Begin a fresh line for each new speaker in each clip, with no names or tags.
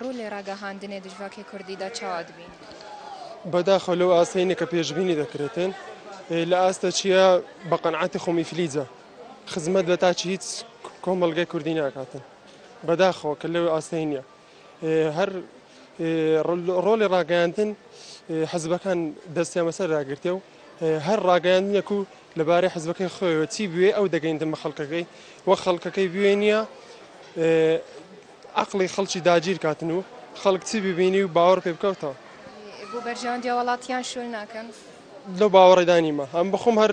ڕوو لە ڕاگەهاندنێ دژڤاکێ کوردیدا چاوا دبین؟ بەداخەوە
لەو ئاستەینە کە پێشبینی دەکرێتن لە ئاستە چییە بە قەنعاتی خۆمی فلیجە خزمەت بە تاچ هیچ کۆمەلگای کوردی ناکاتن بەداخەوە کە لەو ئاستەی نییە هەر ڕۆڵی ڕاگەیاندن حزبەکان دەستیان بەسەردا گرتێ و هەر ڕاگەیاندنێک و لەبارەی حزبەکەی خۆیەوە چی بوێ ئەو دەگەیندن بە خەڵکەکەی وە خەڵکەکەی بوێ نییە عقلی خەڵکی داگیر کاتن و خەڵک چی ببینی و باوەڕ پێ بکەوتەوە بۆ بەرژەوەندی
وڵاتیان شوێن ناکەن لەو
باوەڕێدانیمە هەم بخۆم هەر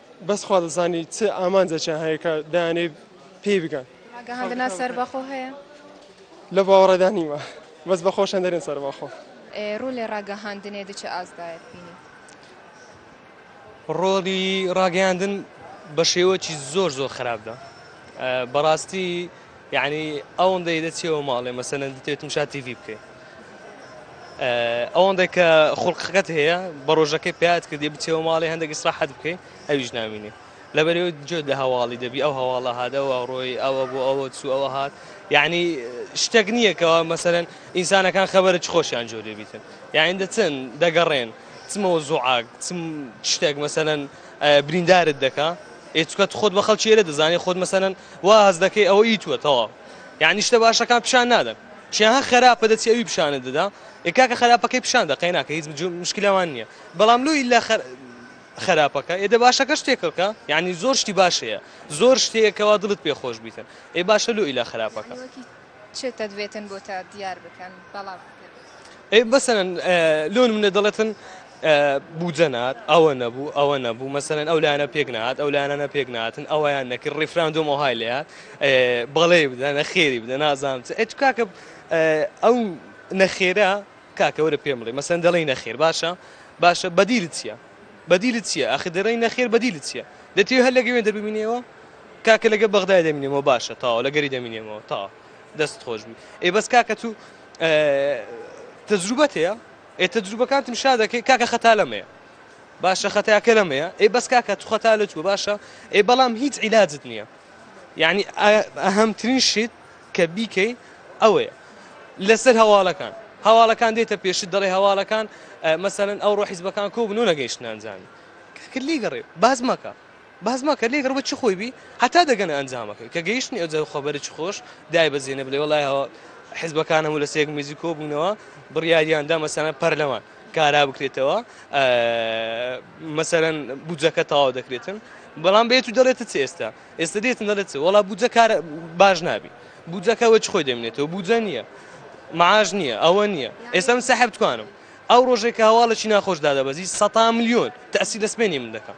بەس خوا دەزانی چ ئامانجێکیان هەیە کە دەیانەوێت پێی بگەن. ڕاگەهاندنا سەربەخۆ
هەیە؟ لەو
باوەڕەدا نیمە. بەس بە خۆشیان دەرێن سەربەخۆ. ڕۆلی
ڕاگەهاندنێ دچ ئاستدایەت بینی؟
ڕۆلی ڕاگەیاندن بە شێوەکی زۆر زۆر خراپدا. بەڕاستی. یەعنی ئەوەندەی دەچیەوە ماڵێ مەسەلەن دەتەوێت مشا تیڤی بکەی ئەوەندەی کە خوڵقەکەت هەیە بە ڕۆژەکەی پیات کردی بچەوە ماڵێ هەندێک ئیسراحەت بکەی ئەویش نامینێ لەبەرەوە جۆ لە هەواڵی دەبی ئەو هەواڵە هادەوە ڕۆی ئەوە بۆ ئەوە چوو ئەوە هات یعنی شتێک نییەکەوە مەسەرەن ئینسانەکان خەبەرە چ خۆشیان جۆ لێبیتن یاین دەچن دەگەڕێن چمەوە زۆعاگ چم شتێک مەسەن بریندارت دەکا ئێ چکە تو خۆت بە خەڵکی ئێرە دەزانێ خۆت مەسەلەن وا هەست دەکەی ئەوە ئی توە تەواو یانی شتە باشەکان پیشان نادەن چیان هە خەراپە دەچی ئەوی پیشانت دەدا ئێ کاکە خەراپەکەی پیشان دە قەی ناکە هیچ مشکلەمان نییە بەڵام لۆ ئیلا خە خراپەکە ئێدە باشەکەش تێکەڵکە یعنی زۆر شتی باش هەیە زۆر شتەیە کەوا دڵت پێ خۆش بیتن ئێ باشە لۆ ئیلا خراپەکە. چ
تەدوێتن بۆتە دیار بکەن بەڵام ئەی
مەسەن لۆ منە دەڵێتن بودجەنات ئەوە نەبوو ئەوە نەبوو مەسەن ئەو لایەنە پێک نات ئەو لایەنە پێک ناتن ئەویان نەکرد ڕیفراندۆم وهای لات بەڵێ بدە نەخێری بدە نازام ئەت کاکە ئەو نەخێرە کاکەوە لە پێم بڵێ مەسەن دەڵی نەخێر باشە باشە بەدیل چییە بەدیل چییە ئەخ دەڕی نەخێر بەدیل چییە دەتێ هەر لەگەوێن دەبینەوە کاکە لەگەر بەغدای دەمینێمەوە باشە تاوە لەگەری دەمینێمەوە تا دەست خۆش بی ئێ بەس کاکە تو تەجروبەت هەیە ئێ تەجروبەکانتم شا دەکەی کاکە خەتا لەمەیە باشە خەتاکە لەمەیە ئێ بەس کاکە تو خەتا لە توە باشە ئێ بەڵام هیچ عیلاجت نییە یعنی ئەهەمترین شت کە بیکەی ئەوەیە لەسەر هەواڵەکان هەواڵەکان دێتە پێشت دەڵێ هەواڵەکان مەسەن ئەو ڕۆحیزبەکان کۆ بنۆ نەگەیشتنانزانانی کاکە لی گەڕێ باز مەکە باس مەکە لێک ڕەوە چ خۆی بی هەتا دەگەنە ئەنجامەکەی کە گەیشتنی ئەوجا خۆبەرە چ خۆش دایبەزێنە بلێ وەڵای هەوە حزبەکان هەموو لە سێک میزی کۆبوونەوە بڕیاریاندا مەسەنە پەرلەمان کارا بکرێتەوە مەسەرەن بودجەکە تەواو دەکرێتن بەڵام بێت و دەڵێت چ ئێستا ئێستا دێتن دەڵێت وڵا بودجە کار باش نابی بودجەکە وەچ خۆی دەمێنێتەوە بودجە نییە معاش نییە ئەوە نییە ئێستا من سەحب توانم ئەو ڕۆژێکە هەواڵەی ناخۆش دادەبەزی سە میلیۆن تاسی لەسمێنی من دەکەم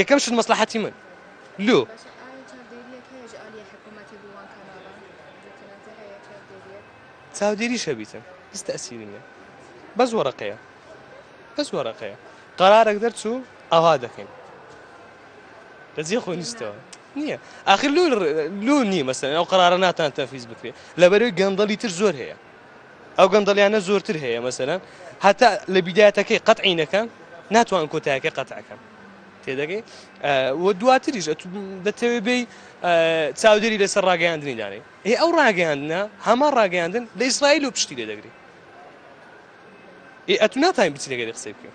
یەکەم شت مەسڵەحەتی من لۆ. چاودێریش هەبیتن هیچ تەسیری نیە بەس وەرەقەیە بەس وەرەقەیە قەرارێک دەرچوو ئاوا دەکەین لەجێ خۆ نیستەوە نییە ئاخر لو لو نی مەسەن ئەو قرارە ناتان تەفیز بکرێت لەبەرەوەی گەندەڵی تر زۆر هەیە ئەو گەندەڵیانە زۆرتر هەیە مەسەلەن هەتا لە بیدایەتەکەی قەتعی نەکەن ناتوان کۆتایەکە قەتعەکەن تێدەگەی و دواتریش دەتەوێ بێ چاودێری لەسەر ڕاگەیاندنی دانێ هی ئەو ڕاگەیاندنە هەما ڕاگەیاندن لە ئیسرائیل و پشتی لێ دەگری ئەتو ناتوانین بچی لەگەری قسەی بکەین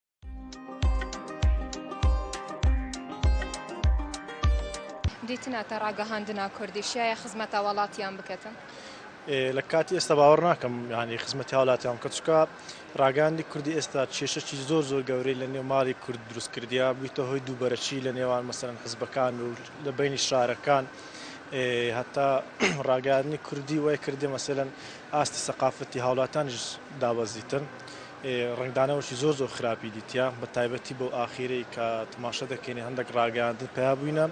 دیتنە تە ڕاگەهاندنا کوردی شایە خزمەتە وڵاتیان بکەتن لە
کاتی ئێستا باوەڕ ناکەم ینی خزمەتی هاولاتیان کەچکە ڕاگەاندی کوردی ئێستا کێشەی زۆر زۆر گەورەی لە نێوماری کورد دروستکردیا بوویتە هۆی دووبەرەکی لە نێوان مەسەرەن حزبەکان و لە بینی شارەکان هەتا ڕاگەاندنی کوردی وای کردێ مەسەن ئاستی سەقافەتی هاولاتانیش دابەزیتن ڕەنگدانەوەشی زۆر زۆر خراپی دیتیە بەتایبەتی بەو ئاخیرەی کە تماشە دەکەینی هەندێک ڕاگەیاندن پیا بووینە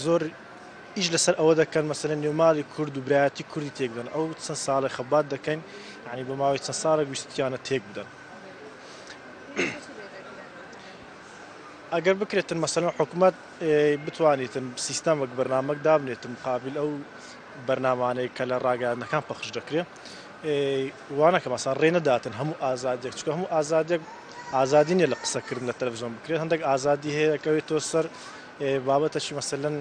زۆر ئیش لەسەر ئەوە دەکەن مەسەرە نێوماڵی کورد و برایەتی کوردی تێکدەن ئەو چەند ساڵی خەبات دەکەین ینی بە ماوەی چەند ساڵە گویستیانە تێک بدەن ئەگەر بکرێتن مەسەلەن حکوومەت بتوانیتن سیستەمەک بەرنمەک دابنێتن مقابل ئەو بەرنمانەیە کە لە ڕاگەیانەکان پەخش دەکرێت وانەکە مەسە ڕێ نەداتن هەموو ئازادێک چکە هەموو ئازادێک ئازادی نیە لە قسەکردن لە تەلەڤزیۆن بکرێت هەندێک ئازادی هەیەکەوێت تۆ سەر بابەتەشی مەسەلەن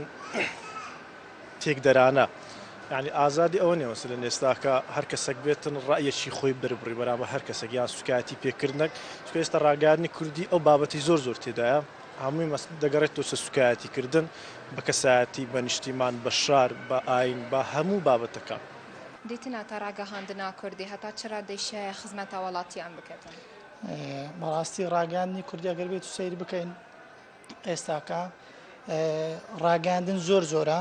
تێکدەرانە ینی ئازادی ئەوە نێ مەسەلەن ئێستاکە هەر کەسەک بێتن ڕایەکی خۆی بربڕی بەرامە هەر کەسەک یان سوکایەتی پێکردنەک چکە ئێستا ڕاگەاندنی کوردی ئەو بابەتی زۆر زۆر تێدایە هەمووی مەست دەگەڕێت تۆ سە سوکایەتی کردن بە کەسایەتی بە نیشتیمان بە شار بە ئاین بە هەموو بابەتەکە. دیتنا تا
ڕاگەهاندنا کوردی هەتا چ ڕادەی شایە خزمەت هاوڵاتیان بکەتن؟ بەڕاستی
ڕاگەاندنی کوردی گەر بێت سیر بکەین ئێستاکە ڕاگەاندن زۆر زۆرە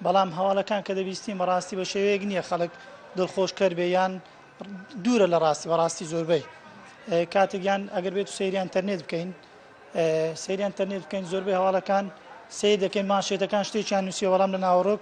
بەڵام هەواڵەکان کە دەبیستین بەڕاستی بە شێوەیەک نییە خەڵک دڵخۆشکەر بێ یان دوورە لە ڕاستی بەڕاستی زۆربەی کاتێکیان ئەگەر بێت سریان تەرنێت بکەین سریان تەرنێت بکەین زۆربەی هەواڵەکان سیر دەکەین ماشێتەکان شتێکیان نووسیەوەڵام لە ناوەڕۆک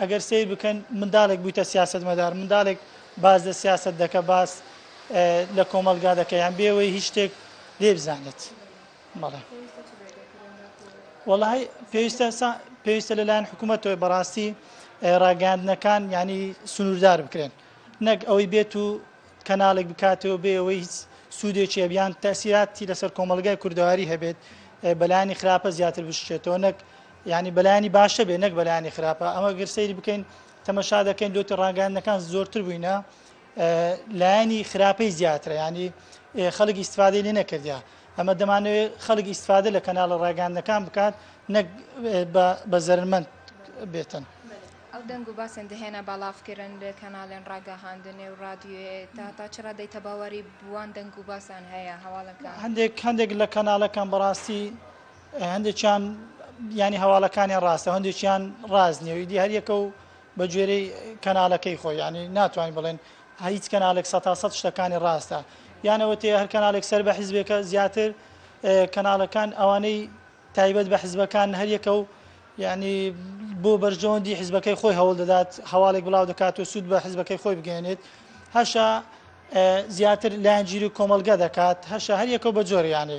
ئەگەر سەیر بکەن منداڵێک بویتە سیاسەتمەدار منداڵێک باس لە سیاسەت دەکە باس لە کۆمەڵگا دەکە یان بێ ئەوەی هیچ شتێک لێ بزانێت بەڵێ وەڵی پێویستە پێویستە لەلایەن حکوومەتەوەی بەڕاستی ڕاگەاندنەکان ینی سنووردار بکرێن نەک ئەوەی بێت و کەناڵێک بکاتەوە بێ ئەوەی هیچ سوودێکی بیان تاسیراتی لەسەر کۆمەلگای کوردەواری هەبێت بەلانی خراپە زیاتر بشێتەوە نەک یانی بەلایەنی باشە بێ نەک بەلایەنی خراپە ئەمە گەر سەیری بکەین تەمەشا دەکەین لۆتی ڕاگەاندنەکان زۆرتر بووینە لایەنی خراپەی زیاترە ینی خەڵک ئیسفادەی لێ نەکردیا ئەمە دەمانەوێت خەڵک ئیسفادە لە کەناڵە ڕاگەاندنەکان بکات نەک بە زەرمەند بێتن. ئەو دەنگ
و باسێن دەهێنا باڵافکردن لە کەناڵێن ڕاگەهاندنێ و ڕادیوێ تا تا چرا دەی تەباوەری بوان دەنگ و باسان هەیە هەواڵەکە هەندێک هەندێک لە
کەناڵەکان بەڕاستی هەندێکیان یانی هەواڵەکانیان ڕاستە و هەندێکیان ڕاست نیە و ئیدی هەریەکە و بە گوێرەی کەنالەکەی خۆی یانی ناتوانین بڵێن هیچ کەنالێک سە تا سەد شتەکانی ڕاستە یانەوە تێ هەر کەنالێک سەر بە حیزبێکە زیاتر کەناڵەکان ئەوانەی تایبەت بە حیزبەکان هەریەکە و یعنی بۆ بەرژەوەندی حیزبەکەی خۆی هەوڵ دەدات هەواڵێک بڵاو دەکات و سوود بە حیزبەکەی خۆی بگەێنێت هەشە زیاتر لایەنگیری کۆمەلگە دەکات هەشە هەریەکە بە جۆریانێ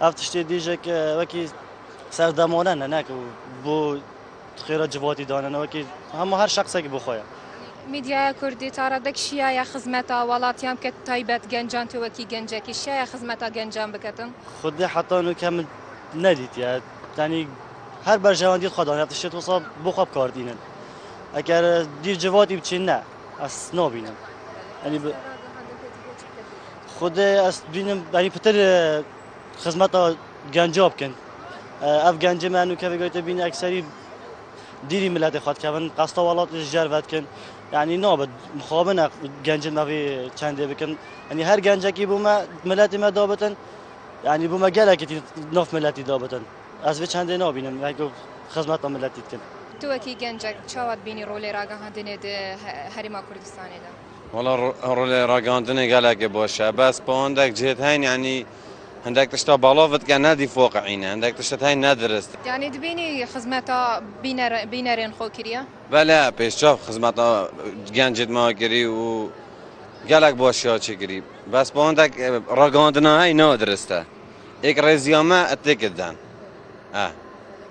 ئەڤ تشتێ دیژەک وەکی سەردەمۆنە نەنەک و بۆ خێرە جڤاتی دانەوەکی هەموو هەر شخصێکی بخۆیە میدیایە کوردی
تا ڕادەک شیایە خزمەتا وڵاتیان کە تایبەت گەنجان تۆوەکی گەنجێکی شایە خزمەتا گەنجان بکەتم خودی حتان و
کەم نەدیتە تانی هەر بەرژەوەندی خۆدان هەفت شێت وسا بۆ خۆ بکاردینن ئەگەر دیر جڤاتی بچین نە ئەس نابینم ئەنی خود ئەست بینم بەری پتر خزمەتە گەنجۆ بکەن ئەف گەنجە مانو کە بگویتە بین ئەکسری دیری ملت خود کەون قەستە وڵات جار بات کن یعنی نابد مخابنە گەنج مەوی چندێ بکەن ئەنی هەر گەنجەکی بوومە ملەتی مە دابتن یعنی بوومە گەلەکی نف ملەتی دابتن ئەس بێ چندێ نابینم خزمەتە ملەتی بکەن توەکی گەنجەک
چاوات بینی ڕۆلێ راگەهاندنێت هەرێما کوردستانێدا وەڵا
ڕۆلێ ڕاگەاندنێ گەلەکێ بۆشە بەس پەوەندەک جێت هەین یانی هەندێک تشتا باڵاڤت کە نادی فۆقعینە هەندێک تشت هەین نادرست. یانی دبینی
خزمەتا بینەر بینەرێن خۆ کریا؟ بەلە پێشچاو
خزمەتا گیان جێت ماوە کری و گەلەک بۆشیا چی کری بەس پەوەندەک ڕاگەاندنا هەی نا درستە ئێک ڕێزیامە ئەتێکت دان ئە.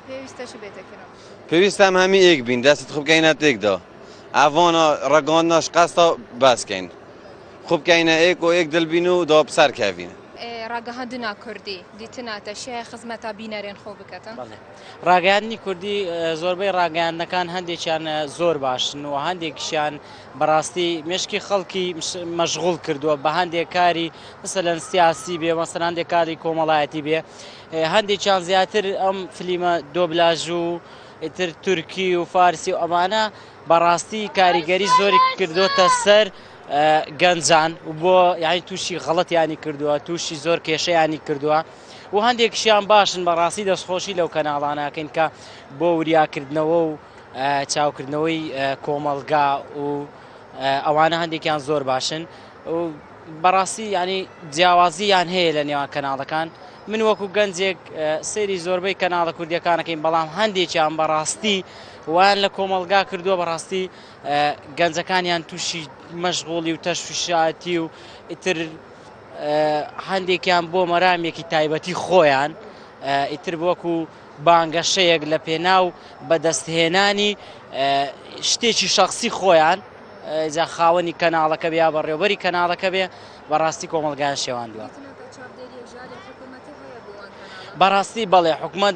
پێویستە چ
بێتە کرا؟ پێویستە ئەم هەمی
ئێک بین دەستت خبکەینە تێکدا. ئاڤانا ڕەگاندناش قەستە باس کەین خو بکەینە ئێک و ئێک دل بین و داو پسار کەڤین. ڕاگەهاندنا
کوردی دیتنا تەشیایە خزمەتا بینەرێن خۆ بکەتن؟ بەڵێ. ڕاگەیاندنی
کوردی زۆربەی ڕاگەیاندنەکان هەندێکیان زۆر باشن و هەندێکیشیان بەڕاستی مێشکی خەڵکی مەشغوڵ کردووە بە هەندێک کاری مەسەلەن سیاسی بێ مەسەلەن هەندێک کاری کۆمەڵایەتی بێ هەندێکیان زیاتر ئەم فلیمە دۆبلاژ و ئیتر تورکی و فارسی و ئەمانە بەڕاستی کاریگەری زۆری کردوتە سەر گەنجان و بۆ یانی تووشی غەڵەتیانی کردووە تووشی زۆر کێشەیانی کردووە و هەندێکشیان باشن بەڕاستی دەستخۆشی لەو کەناڵانەکەین کە بۆ وریاکردنەوە و چاوکردنەوەی کۆمەلگا و ئەوانە هەندێکیان زۆر باشن و بەڕاستی ینی جیاوازی یان هەیە لە نێوان کەناڵەکان من وەکو گەنجێک سەیری زۆربەی کەناڵە کوردیەکانەکەین بەڵام هەندێکیان بەڕاستی وایان لە کۆمەڵگا کردووە بەڕاستی گەنجەکانیان تووشی مەشغۆڵی و تەشویشاتی و ئیتر هەندێکیان بۆ مەرامێکی تایبەتی خۆیان ئیتر بۆکو بانگەشەیەک لە پێناو بەدەستهێنانی شتێکی شخصی خۆیان جا خاوەنی کەناڵەکە بیا بەڕێوبەری کەناڵەکە بێ بەڕاستی کۆمەڵگایان شێواندوە. بەڕاستی بەڵێ حکومەت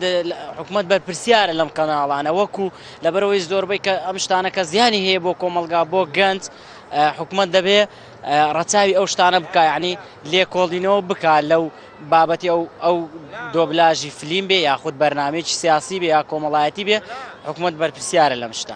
حکومەت بەرپرسیارە لەم قەناڵانە وەکو لەبەرەوەی زۆربەی کە ئەم شتانە کە زیانی هەیە بۆ کۆمەلگا بۆ گەنج حکومت دەبێ ڕەچاوی ئەو شتانە بکایانی لێکۆڵینەوە بک لەو بابەتی ئەو ئەو دۆبلاژی فلیم بێ یاخود بەرنمەیەکی سیاسی بێ یا کۆمەڵایەتی بێ حکومت بەرپسیارە لەم شتە.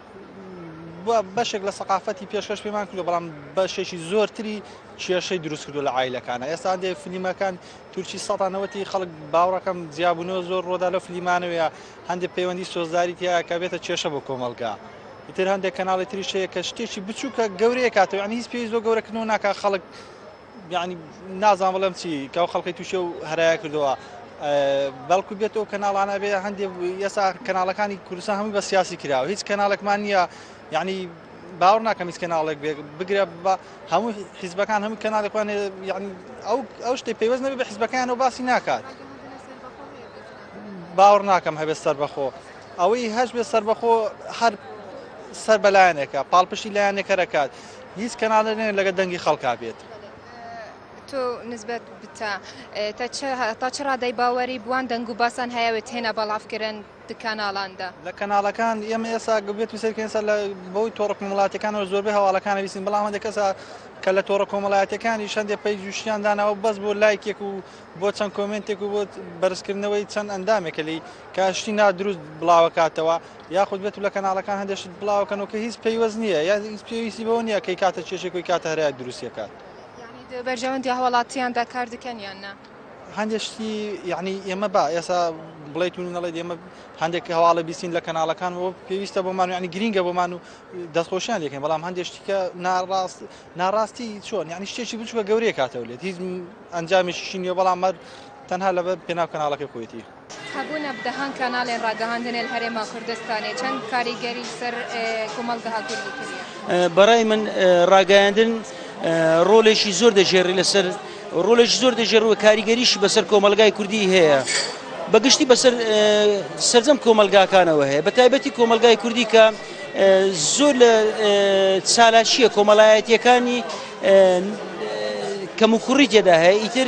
بەشێک لە سەقافەتی پێشکەش پێمان کردو بەڵام بەشێکی زۆرتری کێشەی دروست کردو لە ئایلەکانە ئێستا دێ فلیمەکان تورکی سەدانەوەتی خەڵک باوڕەکەم جیابوونەوە زۆر ڕۆدا لە فلیمانەوەە هەندێک پەیوەندی سۆزداری تیاکە بێتە کێشە بۆ کۆمەلگا. تر هەندێک کەناڵی تریشەیە کە شتێکی بچووکە گەورەیە کاتەوە ئەنی هیچ پێویست بۆ گەورەکردنەوە ناکە خەڵک یانی نازان بڵێم چی کەو خەڵکی تووشێ و هەرایە کردەوە بەڵکو بێت و کەناڵانە بێ هەندێک یەسا کەناڵەکانی کورسە هەموو بە سیاسی کراوە هیچ کەناڵێکمان نییە یعنی باوەڕ ناکەم هیچ کەناڵێک بێ بگرە بە هەموو حیزبەکان هەموو کەناڵێکوان یعنی ئەو ئەو شتی پێوەست نەبێ بە حیزبەکان و باسی ناکات باوەڕ ناکەم هەبێت سەر بەخۆ ئەوەی هەش بێ سەر بەخۆ هەر سەر بەلایەنێکە پاڵپشتی لایەنێکەرەکات هیچ کەنالێ نەیە لەگە دەنگی خەڵکا بێت. تۆ
نسبەت بتە تا چ تا چ ڕادەی باوەری بوان دەنگ و باسان هەیەوێت تێنە بەڵافکردن دکاناڵاندا لە کەناڵەکان
ئێمە ئێسا گوبێت و سەرکەین سەر لە بەوەی تۆڕە کومەڵاتەکانەوە زۆربەی هەواڵەکانە بیسین بەڵام هەندێک کەسە کە لە تۆڕە کۆمەڵایەتەکانی شەندێ پەی جوشیان داناوە بەس بۆ لایکێک و بۆ چەند کۆمنتێک و بۆ بەرزکردنەوەی چەند ئەندامێکە لی کاشتی نادروست بڵاوکاتەوە یاخود بێتو لە کەناڵەکان هەندێ شت بڵاوە کەنەوە کە هیچ پەیوەست نییە یان هیچ پێویستی بەوە نییە کەی کاتە کێشەی کۆی کاتە هەرایەک دروستی ئەکات. یەعنی دە بەرژەوەندی
هەواڵاتیاندا کار دکەن یان نا؟ هەندێ شتی
یەعنی ئێمە با ئێسا بڵێ تونی نەڵێ دێمە هەندێک هەواڵە بیسین لە کەناڵەکان و پێویستە بۆمان یعنی گرینگە بۆمان و دەستخۆشیان لەکەین بەڵام هەندێک شتیکە ناڕاست ناڕاستی چۆن یعنی شتێکی بچووکە گەورەیە کاتەوە لێت هیچ ئەنجامێکیشی نیە بەڵام مەر تەنها لەبەر پێناو کەناڵەکە کۆیتی هەبوونە دەهان
کاناڵێ ڕاگەهاندنێ لە هەرێما کوردستانێ چەن کاریگەری لە سەر کومەڵگەها کوردی کریە؟ بە ڕای من
ڕاگەیاندن ڕۆلێکی زۆر دەژێڕی لە سەر ڕۆلێکی زۆر دەژێڕ و کاریگەریشی بە سەر کۆمەڵگای کوردی هەیە. بە گشتی بە سەر سەرجەم کۆمەڵگاکانەوە هەیە بە تایبەتی کۆمەڵگای کوردی کە زۆر لە چالاکییە کۆمەڵایەتییەکانی کەموکوڕی تێدا هەیە ئیتر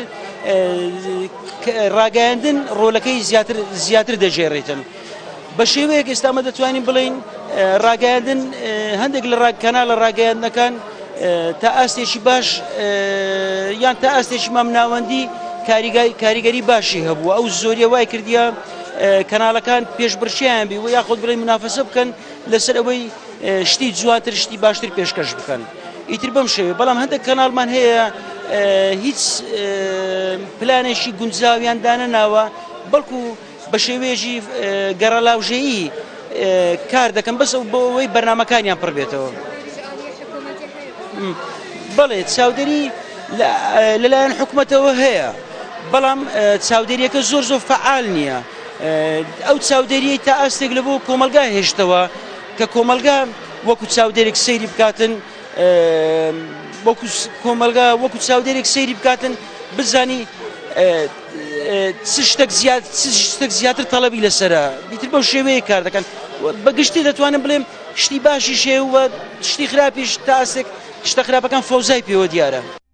ڕاگەیاندن ڕۆلەکەی زیاتر زیاتر دەژێڕێتن بە شێوەیەک ئێستامە دەتوانین بڵین ڕاگەیاندن هەندێک لە ڕاکەنا لە ڕاگەیاندنەکان تا ئاستێکی باش یان تا ئاستێکی مام ناوەندی کاریگەری باشی هەبوو ئەو زۆریە وای کردیە کەناڵەکان پێشبڕکێیان بی و یاخود بڵێ منافەسە بکەن لەسەر ئەوەی شتی جواتر شتی باشتر پێشکەش بکەن ئیتر بەم شێوێ بەڵام هەندێک کەناڵمان هەیە هیچ پلانێکی گونجاویان دانە ناوە بەڵکو بە شێوێژی گەڕەلاوژەیی کار دەکەم بەس ئەو بۆەوەی بەرنمەکانیان پڕ بێتەوە بڵێ چاودێری لەلایەن حکوومەتەوە هەیە. بەڵام چاودێریەکە زۆر زۆر فەعال نییە ئەو چاودێریی تا ئاستێک لە بۆ کۆمەلگا هێشتەوە کە کۆمەلگا وەکو چاودێرێک سەیری بکاتن کۆمەلگا وەکو چاودێرێک سەیری بکاتن بزانی شتێک زیاد شتێک زیاتر تەڵەبی لەسرە بیتر بەو شێوەیە کار دەکەن بەگشتی دەتوانم بڵێم شتی باشی شێ و شتی خراپیش تاسێک شتە خراپەکان فۆزای پێوە دیارە.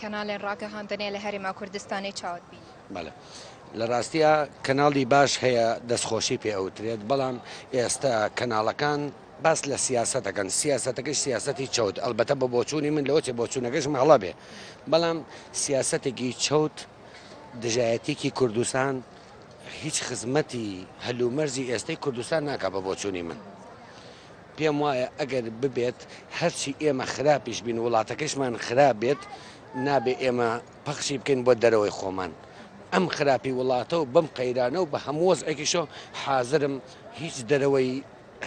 کەناڵێن ڕاگەهاندنێ لە هەرێما کوردستانی چاوت بی بەڵێ.
لە ڕاستیە کەناڵی باش هەیە دەستخۆشی پێ ئەوترێت بەڵام ئێستا کەناڵەکان باس لە سیاستەکەن سیاستەکەی سیاستی چەوت ئەلبەتە بە بۆچوونی من لەوەێ بۆچوونەکەش ماڵە بێ بەڵام سیاستێکی چەوت دژایەتێکی کوردستان هیچ خزمەتی هەل و مەرجی ئێستەی کوردستان ناکات بە بۆچوونی من پێم وایە ئەگەر ببێت هەرچی ئێمە خراپیش بین وڵاتەکەشمان خراپ بێت نابێ ئێمە پەخشی بکەین بۆ دەرەوەی خۆمان ئەم خراپی وڵاتە و بەم قەیرانە و بە هەمووەز ئەکیشۆ حازرم هیچ دەرەوەی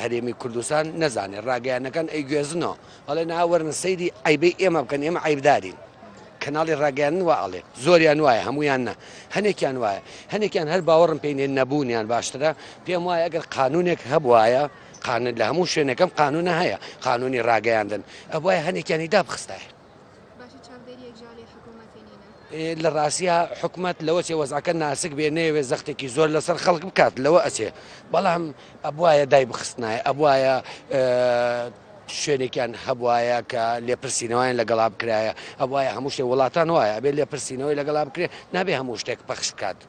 هەرێمی کوردستان نەزانێ ڕاگەیانەکان ئەیگوێزنەوە ئەڵێن ئا وەرن سەیری عەیبەی ئێمە بکەن ئێمە عەیبدارین کەناڵی ڕاگەیاندن وا ئەڵێ زۆریان وایە هەمویان نە هەنێکیان وایە هەنێکیان هەر باوەڕم پێی نێ نەبوونیان باشترە پێم وایە ئەگەر قانونێک هەبوایە قانون لە هەموو شوێنەکەم قانونە هەیە قانونی ڕاگەیاندن ئەبوایە هەنێکیانی دابخستایە لە ڕاستیا حکومەت لەوە چێ وەزعەکە ناسک بێ نەیەوێت زەختێکی زۆر لەسەر خەڵک بکات لەوە ئەچێ بەڵام ئەبواە دای بخستنایە ئەبواە شوێنێکیان هەبواە کە لێپرسینەوەیان لەگەڵا بکرایە ئەوواە هەموو شتێ وڵاتان وایە بێ لێپرسینەوەی لەگەڵا بکرێت نابێ هەموو شتێک پەخش بکات.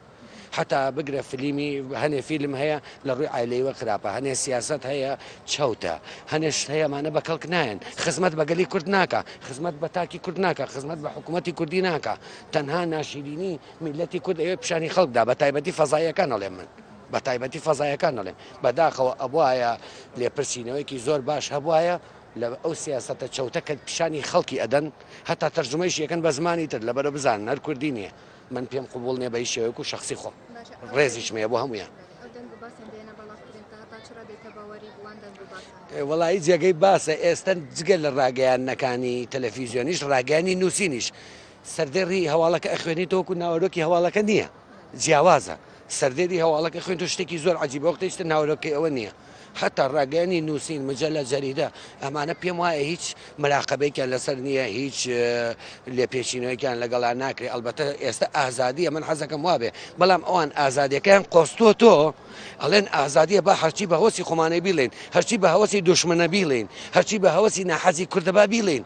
حەتا بگرە فلیمی هەنێ فیلم هەیە لە ڕووی عیلەیوە خراپە هەنێ سیاست هەیە چەوتە هەنێ شت هەیە مانە بە کەڵک نایەن خزمەت بە گەلی کورد ناکە خزمەت بە تاکی کورد ناکە خزمەت بە حکوومەتتی کوردی ناکە تەنها ناشیرینی میلەتی کورد ئەوێ پیشانی خەڵکدا بە تایبەتی فەزایەکان ئەڵێ من. بە تایبەتی فەزایەکان دەڵێم بەداخەوە ئەبواە لێپرسینەوەیکی زۆر باش هەبواە لە ئەو سیاستە چەوتە کە پیشانی خەڵکی ئەدەن هەتا تەرجمەیش یەکەن بە زمانی تر لەبەرە بزان نەر کوردی نییە من پێم قبوڵ نیە بە هیچ شێوەیەک و شەخسی خۆم ڕێزیشم هەیە بۆ هەموویان وەڵایی جێگەی باسە ئێستا جگە لە ڕاگەیانەکانی تەلەفیزیۆنیش ڕاگەانی نووسینیش سەردێڕی هەواڵەکە ئەخوێنی تۆکو ناوەرۆکی هەواڵەکە نییە جیاوازە سەردێری هەواڵەکە خوێن و شتێکی زۆر عجیبە وەختیشتە ناوەرۆکەی ئەوە نییە هەتا ڕاگەیانی نووسین، مجەلە، جەریدە، ئەمانە پێم وایە هیچ مراقەبەیەکیان لەسەر نییە، هیچ لێپێچینەوەیەکیان لەگەڵا ناکرێ، ئەڵبەتە ئێستە ئازادییە من حەزەکەم وابێ، بەڵام ئەوان ئازادیەکەیان قۆستۆتۆ، ئەڵێن ئازادییە با هەرچی بە هەوەسی خۆمانەی بیڵێین، هەرچی بە هەوەسی دوشمنە بیڵێین، هەرچی بە هەوەسی ناحەزی کوردە با بیڵێین.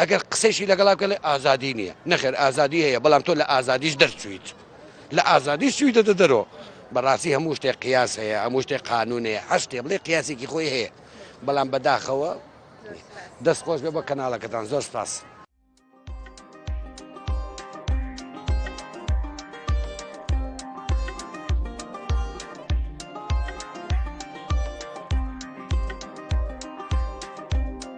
ئەگەر قسەیشی لەگەڵا بکەی ئەڵێ ئازادی نییە، نەخێر ئازادی هەیە بەڵام تۆ لە ئازادیش دەرچوویت، لە ئازادیش چوویتەتە دەرەوە. بەڕاستی هەموو شتێک قیاس هەیە، هەموو شتێک قانوون هەیە، هەر شتێ بڵێی قیاسێکی خۆی هەیە، بەڵام بەداخەوە نییە. دەست خۆش بێ بۆ کەناڵەکەتان، زۆر سپاس.